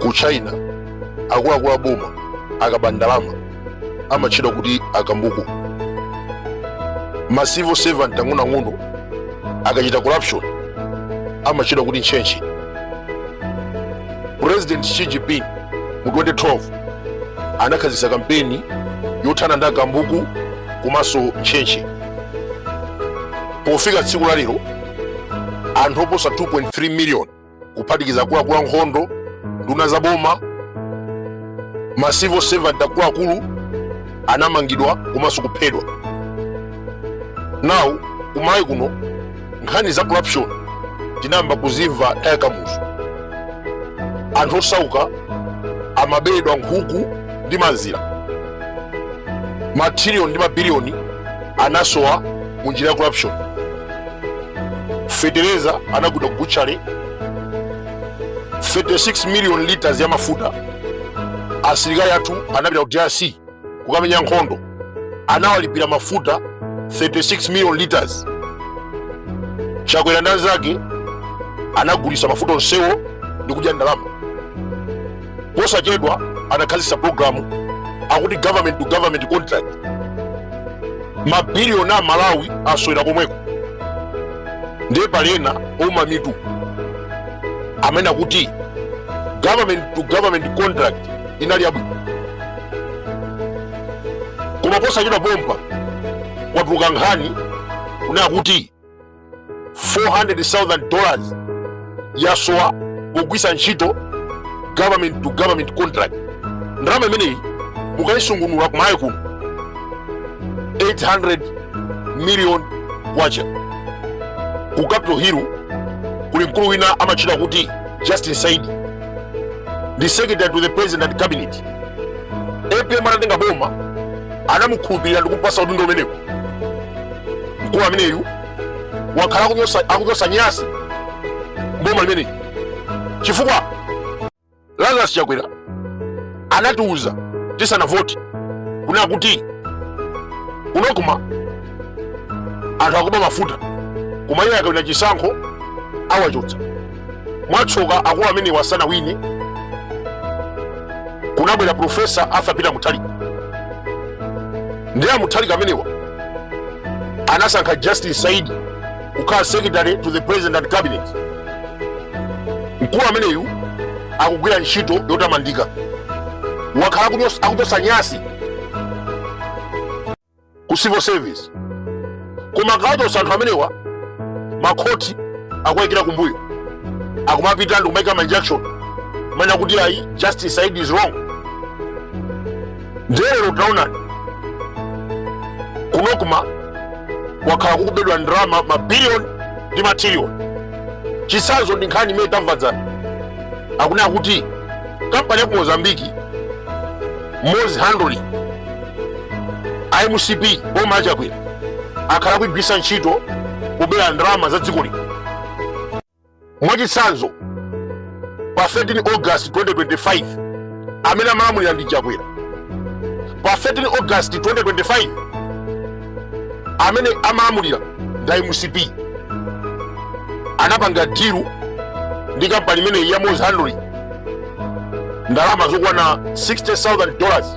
ku china akuluakulu a boma akaba ndalama amatchedwa kuti akambuku ma civil servant ang'onoang'ono akachita corruption amatchedwa kuti ntchentche president xi jinping mu 2012 anakhazikitsa kampeni yothana ndi akambuku komanso ntchentche pofika tsiku la lero anthu oposa 2.3 million kuphatikiza akuluakulu a nkhondo nduna za boma ma civil servant akuluakulu anamangidwa komanso kuphedwa now kumalawi kuno nkhani za corruption tinayamba kuzimva nthawi ya kamuzu anthu osauka amaberedwa nkhuku ndi mazira matrilioni ndi mabiliyoni anasowa mu njira ya corruption fetereza anagula kubuchale 36 million liters ya mafuta asilikali athu anapita ku drc kukamenya nkhondo anawalipira mafuta 36 million liters chakwera ndi anzake anagulitsa mafuta onsewo ndi kudya ndalama posachedwa anakhazikitsa programu akuti government to government contract mabiliyoni a malawi asowera komweko ndiye pali ena ouma mitu amene akuti government to government contract inali yabwino koma posachedwa pompa kwatuluka nkhani kunena akuti 400,000 dollars yasowa pogwiritsa ntchito government to government contract ndalama imeneyi mukaisungunula kumalawi kuno 800 million kwacha ku capital hill kuli mkulu wina amatchedwa kuti justin saidi ndi secretary to the president and cabinet apm atatenga boma anamukhulupirira ndi kumpasa udindo umenewu mkulu ameneyu wakhala akuchotsa nyasi m'boma limeneli chifukwa lazarus chakwera anatiuza tisanavote kunena kuti ku nocma anthu akuba mafuta koma iye akawina chisankho awachotsa mwatsoka akulu amenewa sanawine kunabwera profesa arthur peter mutharika ndiye amutharika amenewa anasankha justin saidi kukhala secretary to the president and cabinet mkulu ameneyu akugwira ntchito yotamandika wakhala akuchotsa nyasi ku civil service koma akawachotsa anthu amenewa makhoti akuwaikira kumbuyo akumapita ndi kumaika ma injunction kumanena kuti ayi justin saidi is wrong nde lero taonani ku nocma wakhala kukubedwa ndalama mabiliyoni ndi matiriliyoni chitsanzo ndi nkhani imene tamva dzana akunena kuti kampani ya ku mozambiki mozhandling a mcp boma la chakwera akhala akugwiritsa ntchito kubera ndalama za dziko lino mwachitsanzo pa 13 august 2025 amene amalamulira ndi chakwera pa 13 august 2025 amene amalamulira ndi a mcp anapanga deal ndi kampani imeneyi ya mozhandling ndalama zokwana 60000 dollars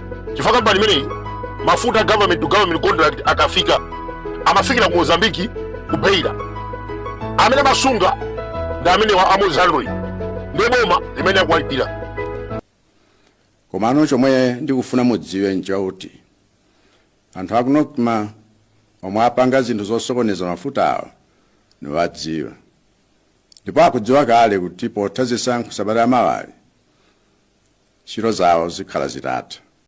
chifukwa kampani imeneyi mafuta a government to government contract akafika amafikira ku mozambiki ku beira amene amasunga ndi amenewa a mozhandling nde boma limene akuwalipira komano chomwe ndikufuna mudziwe nchakuti anthu aku nocma omwe apanga zinthu zosokoneza mafuta awo niwadziwa ndipo akudziwa kale kuti potha zisankho sabata la mawali ntchito zawo zikhala zitatha